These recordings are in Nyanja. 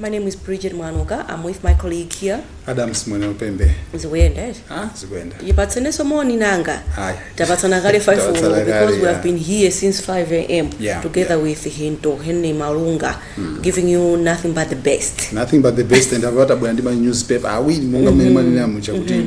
My name is Bridget Mwanuka. I'm with my colleague here. Adams Mwenelupembe Zikuyenda eti? ah zikuyenda Tipatseneso moni nanga. Ayi. Tapatsana kale 5 Tapatsana ulo kale, because we yeah. have been here since 5 a.m. Yeah, together yeah. with Hinto Henry Malunga giving you nothing but the best. nothing but the best and apa tabwera ndi ma newspaper awiri monga mmene mwanena muja kuti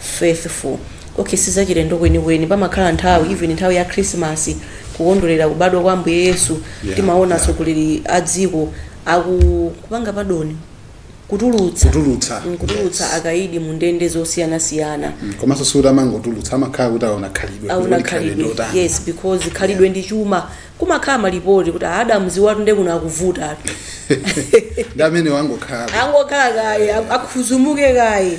Faithful. Okay, sizachilendo kwenikweni pamakhala nthawi even nthawi ya Christmas kukondwerera kubadwa kwa Ambuye Yesu Yeah, timaona yeah. atsogoleri a dziko akukupanga padoni kutulutsa Kutulutsa, Mm, kutulutsa yes. akaidi mu ndende zosiyanasiyana komanso sikuti amangotulutsa amakhala kuti aona khalidwe aona kuti khalidwe khalidwe ndotani. yes because khalidwe ndi chuma kumakhala malipoti kuti a Adams awatu nde kuno akuvutatu ndi amene wangokhala angokhala kaye akhuzumuke kaye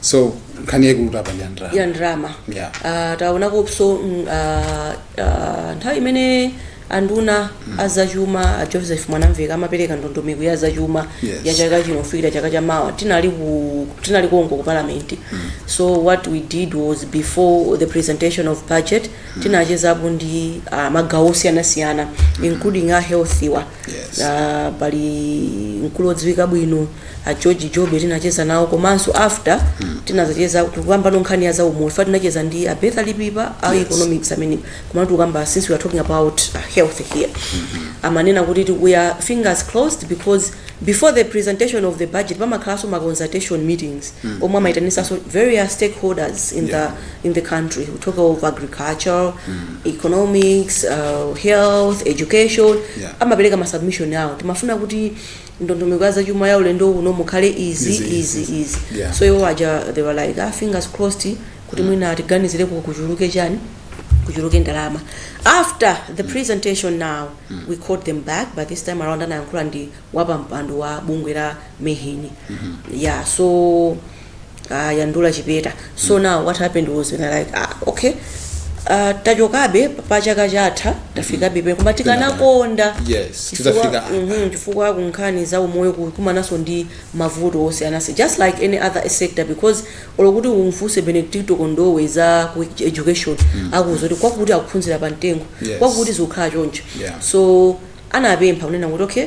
so nkhani yaikulutu apa ndi ya ndalama ya ndalama Yeah. Ah, taonakonso mm, ah, ah, nthawi imene anduna azachuma a Joseph Mwanamvekha amapereka ndondomeko ya zachuma Yes. ya chaka chino kufikira chaka cha mawa tinali ku tinali konko ku parliament so what we did was before the presentation of budget tinachezapo ndi ah, magawo osiyanasiyana including a health-wa Yes. Ah, pali mkulu odziwika bwino a George Jobe tinacheza nawo komanso after tinazacheza tikukamba no nkhani ya zaumoyo chifukwa tinacheza ndi a Bertha Chipipa a Yes. economics amene koma nanga tikukamba since we are talking about uh, health here amanena kuti ti- we are fingers crossed because before the presentation of the budget pamakhalanso ma consultation meetings omwe amaitanisanso various stakeholders in Yeah. the in the country we talk of agriculture economics uh, health education Yeah. amapereka ma submission awo timafuna kuti ndondomeko ya zachuma ya ulendo uno mukhale izi Izi, izi izi. izi Yeah. so iwo aja they were like ah, fingers crossed kuti mwina atiganizire ku- kuchuluke chani kuchuluke ndalama after the presentation now we called them back but this time around anayankhula ndi wapampando wa bungwe la MEHN yeah so ah, Yandura Chipeta so now what happened was they were like ah, okay ah, tachokabe pa chaka chatha tafikabe apa koma tikanakonda Yes, chifukwa- tidzafika apa. mhm, chifukwa kunkhani za umoyo kukumanaso ndi mavuto osiyanasi just like any other sector because olo kuti umfunse Benedicto Kondowe za ku education akuuza kuti kwakuti akuphunzira pa mtengo Yes. kwakuti zikukhala choncho Yeah. so anapempha kunena kuti okay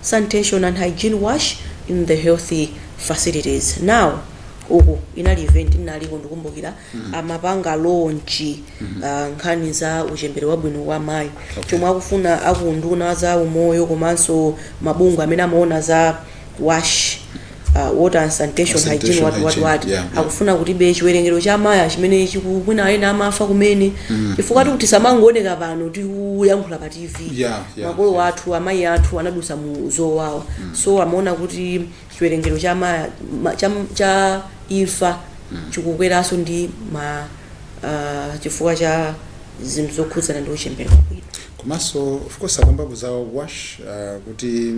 sanitation and hygiene WASH in the health facilities now uku inali event ndinaliko ndikumbukira amapanga launch nkhani za uchembere wabwino wa amayi chomwe akufuna aku unduna za umoyo komanso mabungwe amene amaona za WASH uh, water and sanitation hygiene Sanitation, wati wati hygiene, wati yeah, yeah. akufuna kutibe chiwerengero cha amayi chimene chiku- mwina ena amafa kumene chifukwa tikuti samangooneka pano tikuyankhula pa tv Yeah, yeah, makolo yeah. athu amayi athu anadusa mu zowawa so amaona kuti chiwerengero cha ma, ma, cha, cha imfa chikukweranso ndi ma uh, chifukwa cha zinthu zokhudzana ndi uchembere wabwino komanso of course akambapo za wash uh, kuti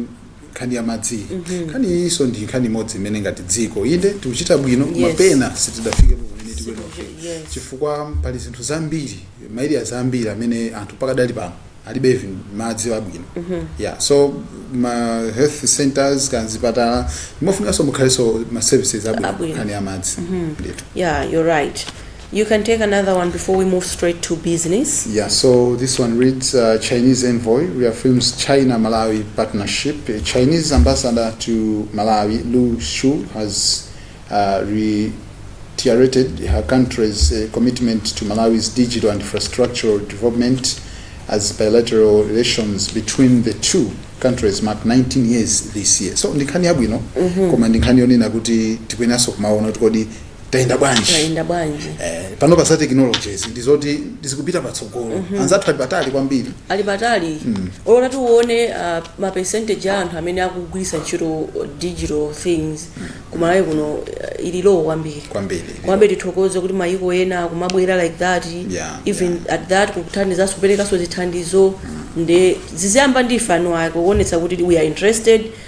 nkhani ya madziyi mm -hmm. nkhani iyinso ndi nkhani imodzi imene ngati dziko inde tikuchita bwino koma yes. pena sitidafike pamene tikuyenofika yes. chifukwa pali zinthu zambiri maeriya zambiri amene anthu pakadali pano alibe even madzi abwino mm -hmm. yeah so ma health centers kaya m'zipatala ndi mofunikanso mukhalenso ma services abwino nkhani ya madzi mm -hmm. yeah you're right You can take another one before we move straight to business. Yeah, so this one reads uh, Chinese envoy reaffirms China Malawi partnership. A Chinese ambassador to Malawi, Lu Shu, has uh, reiterated her country's uh, commitment to Malawi's digital and infrastructural development as bilateral relations between the two countries mark 19 years this year. So ndi nkhani yabwino koma ndi nkhani yonena kuti tikuyenaso kumaona kuti kodi tayenda bwanji tayenda bwanji eh, pano pa za technologies ndi zoti zikupita patsogolo mm -hmm. anzathu ali patali kwambiri ali patali mm. olo tione uh, ma percentage a anthu amene akugwiritsa ntchito digital things mm. ku Malawi kuno uh, ili low kwambiri kwambiri komabe tithokoze kuti mayiko ena akumabwera like that yeah, even yeah. at that kukuthandizanso kuperekanso zithandizo mm. nde ziziyamba ndi ife eni ake kuonetsa kuti we are interested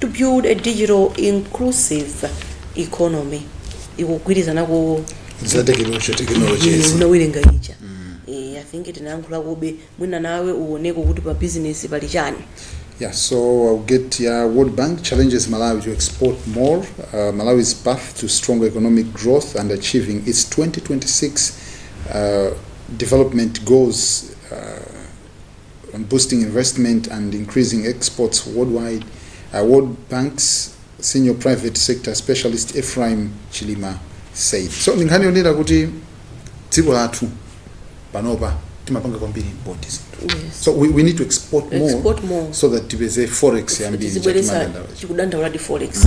to build a digital inclusive economy ikugwirizana ku za technology technologies unawerenga ija Eh, i think tinayankhula kube mwina nawe uoneko kuti pa business pali chani Yeah, so I'll get yeah, World Bank challenges Malawi to export more. Uh, Malawi's path to stronger economic growth and achieving its 2026 uh, development goals uh, on boosting investment and increasing exports worldwide, uh, World Bank's senior private sector specialist Ephraim Chilima said. So ndi nkhani yonena kuti dziko lathu panopa timapanga kwambiri import zinthu. Yes. So we, we need to export more, Export more. so that tipeze forex yambiri tizibweresa chakimanga ndawacho. tikudandaula ndi forex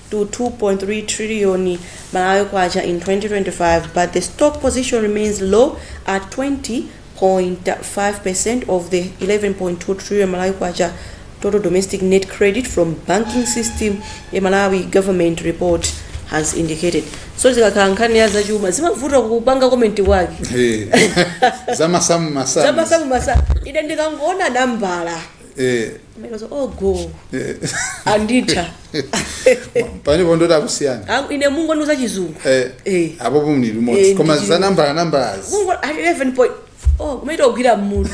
to 2.3 trillion Malawi Kwacha in 2025 but the stock position remains low at 20.5% of the 11.2 trillion Malawi Kwacha total domestic net credit from banking system a Malawi government report has indicated. So zikakhala nkhani ya zachuma zimavuta kupanga comment kwake. Hey. zamasamu masamu Zamasamu masamu ine ndikangoona nambala eh Mero so, oh go eh anditha pane pondoti akusiyana Aku- ine mungondiuza chizungu eh Eh. apo pomwe limodzi Eh, koma ndi- za nambala nambalazi mungoti 11 point oh kumaita kugwira mmutu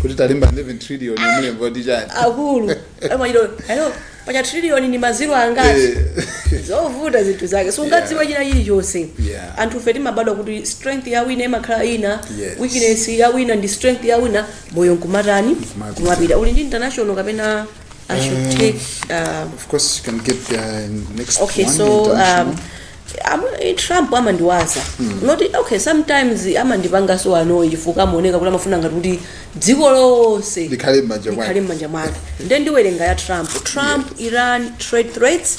kuti talemba 11 trillion mulembo kuti chani akulu amachita hello paja trillion ni maziro angati Eh. zovuta zinthu zake sungadziwe china chilichonse Yeah. anthufe timabadwa kuti strength ya wina imakhala ina Yes. weakness ya wina ndi strength ya wina moyo nkumatani Nkumapita. kumapita uli ndi international kapena i should Um, take uh, Of course, you can get the next okay one. so um, international. am- trump amandiwaza not okay sometimes amandipangaso annoy chifukwa amaoneka kuti amafuna ngati kuti dziko lonse Likhale m'manja mwake. likhale m'manja mwake nde ndiwerenga ya trump trump iran trade threats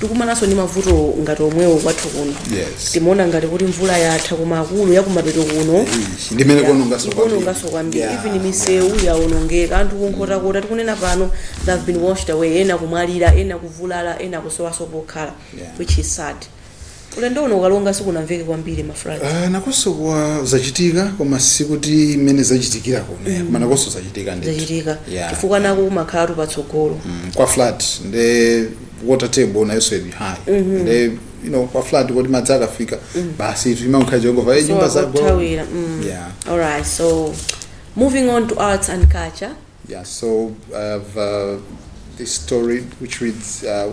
tikumanaso ndi mavuto ngati omwewo kwathu kuno Yes. timaona ngati kuti mvula yatha koma akulu yakumapeto kuno Ish, ndi imene ikuononganso kwambiri. ikuononganso kwambiri Yeah, even misewu yaonongeka anthu kunkhotakota tikunena pano they have been washed away ena kumwalira ena kuvulala ena kusowaso pokhala Yeah. which is sad Ulendo uno ku Karonga sikunamveke kwambiri ma floods. Ah, nakonso kwachitika koma sikuti mmene zachitikira kuno mm. koma nakonso zachitika ndithu zachitika Yeah. chifukwa nako kumakhalatu patsogolo Mm, kwa flat nde water table nayonso ili high nde you know kwa flat koti madzi akafika basi timangkhala jehova e nyumba zagwa. kuthawira mm. yeah alright so moving on to arts and culture yeah so i have uh, this story which reads uh,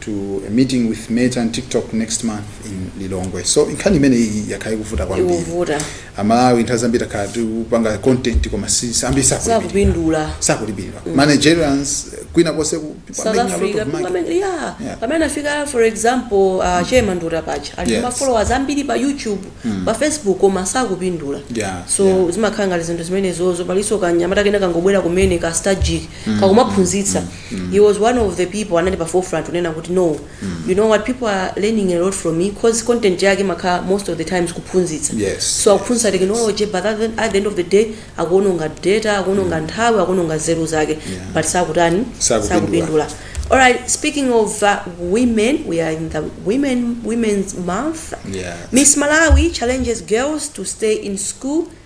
to a meeting with Meta and TikTok next month in Lilongwe. So nkhani imene iyi yakhala ikuvuta kwambiri. Ikuvuta. Amalawi nthawi zambiri takhala tikupanga content koma ambiri sakupindula. Sakupindula. Sakupindula. Mm. ma Nigerians kwina konse ku South Africa pamene yeah. yeah. pamene afika for example uh, mm. Che Mandota pache ali ndi yes. ma followers ambiri pa YouTube mm. pa Facebook koma sakupindula. Yeah. So yeah. zimakhala ngati zinthu zimenezozo paliso kanyamata kena kangobwera kumene ka strategic mm. kakumaphunzitsa mm. he was one of the people anali pa forefront unena kuti no you know what people are learning a lot from me cause content yake makhala most of the times kuphunzitsa Yes, so akuphunzitsa technology but at the, at the end of the day akuononga data akuononga nthawi akuononga zeru zake but sakutani Sakupindula. sakupindula all right speaking of uh, women we are in the women women's month Yeah. miss malawi challenges girls to stay in school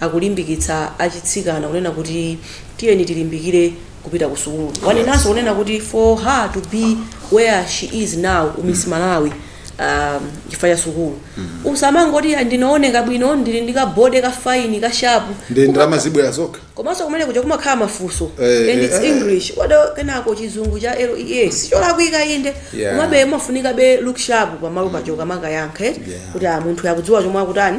akulimbikitsa atsikana kunena kuti tiyeni tilimbikire kupita ku sukulu. Wanenanso kunena kuti for her to be where she is now u Miss Malawi um, chifukwa cha sukulu. Usamangoti "Ah, ndinaoneka bwino ndili ndi ka body ka fine ka sharp. nde ndalama zibwera zokha komanso kumene kuja kumakhala mafunso Eh, and eh, its eh. english wado kenako chizungu cha lea ncholakwika inde Yeah. komabe umafunikabe ulooke sharp pamalo paja kamakayankhe Yeah. kuti ah, munthu akudziwa chomwe akutani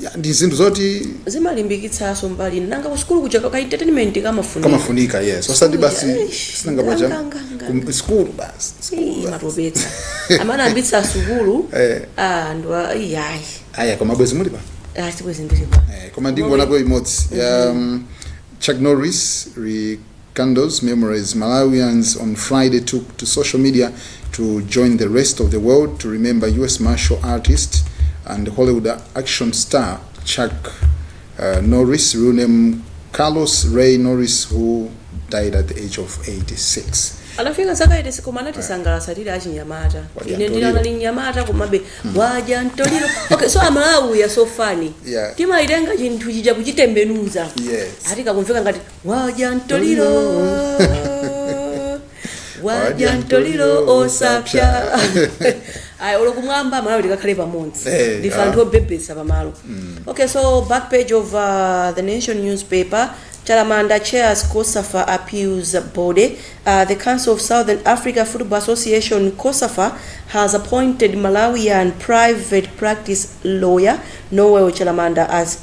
Ya, ndi zinthu zoti zimalimbikitsaso mbali nanga kusukulu kuja ka entertainment kamafunika kamafunika yes osati basi Eish, sinanga paja nga, nga, nga. kum- school basi school Ii, basi. matopetsa amene ambitsa asukulu Eh. ah, ndo iyayi aya koma bwezi muli pa achibwezi ndilipa Eh, koma ndingonako imodzi ya um, chuck norris re Kindles Memories, Malawians on Friday took to social media to join the rest of the world to remember US martial artist and Hollywood action star Chuck uh, Norris, real name Carlos Ray Norris, who died at the age of 86. anafika zaka 86 koma anatisangalatsa tili achinyamata Wadya ine ndili mwana mtoliro. anali mnyamata komabe wadya mtoliro okay so amalawi are so funny Yeah. timatenga chinthu chija kuchitembenuza Yes. ati kakumveka ngati wadya ntoliro wadya ntoliro osapsa ayi olo kumwamba malawi tikakhale pamodzi Eh, ndife anthu ah. obebetsa pamalo okay so back page of uh, the nation newspaper chalamanda chairs cosafa appeals body uh, the council of southern africa football association cosafa has appointed malawian private practice lawyer Noel Chalamanda as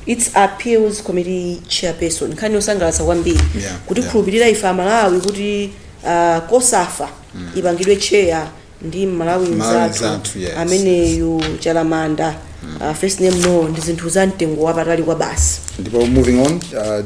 its appeals committee chairperson. Nkhani yosangalatsa kwambiri Yeah, yeah. kutikhulupilira ife aMalawi kuti ah, COSAFA ipangidwe chair ndi mmalawi Malawi mzathu mzathu, yes, ameneyu Chalamanda ah, first name no ndi zinthu za mtengo wapatali kwa basi Ndipo moving on, uh,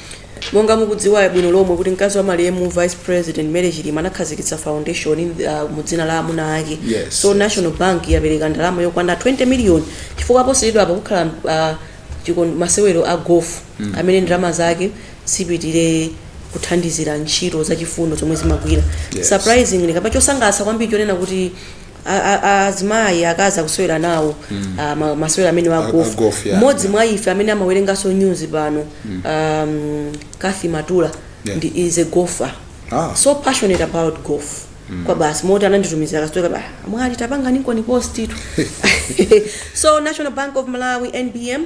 Monga mukudziwa bwino lomwe kuti mkazi wa malemu vice president Mary Chilima anakhazikitsa foundation uh, mu dzina la amuna ake Yes, so yes. National Bank yapereka ndalama yokwana 20 million chifukwa posachedwa apa kukhala uh, chikon- masewero a golf mm. amene ndalama zake zipitire kuthandizira ntchito zachifundo zomwe zimagwira Yes. surprisingly kamba chosangalatsa kwambiri ponena kuti a- a- a- azimayi akazi akusewera nawo ah, ma- masewera amenewa a- a golf, a gofu yeah. mmodzi mwa ife amene amawerenganso news pano um, Cathy Maulidi Yeah. ndi is a golfer Ah. so passionate about golf kwa basi moti anatitumizira kasitoka ba mwali tapanga ninkoni postitu so national bank of malawi nbm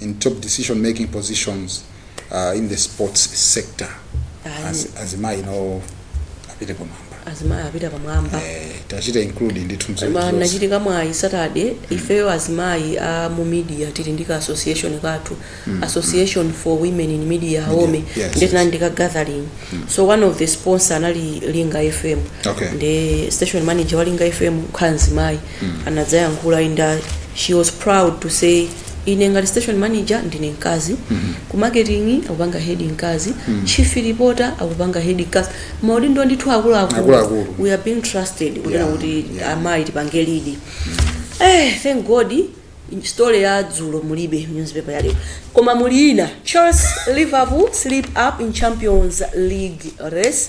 in top decision making positions uh, in the sports sector Ayi. Az, azimayi no apite pamwamba azimayi apite pamwamba eh, tachita include ndithu mu ma- zonse. ndinachita mwayi saturday ifeyo azimayi a mu media tili ndi ka association kathu association for women in media AWOME yes, yes. tinali ndi ka gathering so one of the sponsor anali linga fm Okay. ndi station manager wa linga fm kukhala mzimayi anadzayankhula and uh, she was proud to say ine ngati station manager ndine mkazi, ku marketing akupanga head mkazi, chief reporter akupanga head mkazi. Maudindo ndithu akuluakulu. Akuluakulu. We are being trusted kunena Yeah, kuti yeah. amayi tipange lead. Eh, thank God story ya dzulo mulibe mu newspaper yalero. Koma muli ina. Chelsea Liverpool slip up in Champions League race.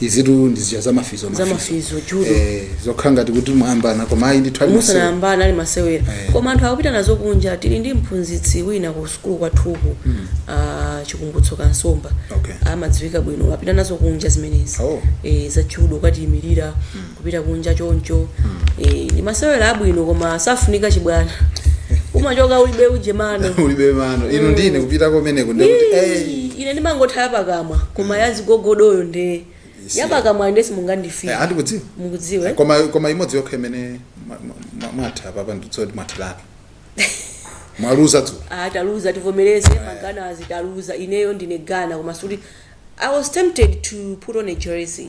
izitu ndi zija za mafizo Za mafizo, judo. eh, zokhala ngati kuti mwayambana koma ayi ndithu ali masewera. musanayambana ali masewera Eh. koma anthu akupita nazo kunja tili ndi mphunzitsi wina ku sukulu kwathuku ah, Chikumbutso Kansomba Okay. amadziwika bwino apita nazo kunja zimenezi Oh. eh, za judo kukatiyimirira kupita kunja choncho mm. e, ndi masewera abwino koma safunika chibwana umachoka ulibe uje mano ulibe mano ine mm. ndiye kupita kumeneko ndikuti hey. ine ndimangotha yapakamwa koma mm. yazigogodoyo nde yapakamwa nde simungandifike eh, andikudziwa mukudziwe eh, koma koma imodzi yokha imene mwatha apapa ndizoti mwathiratu mwaluza tu ah taluza tivomereze eh. maGhana tataluza ineyo ndine Ghana koma sikuti i was tempted to put on a jersey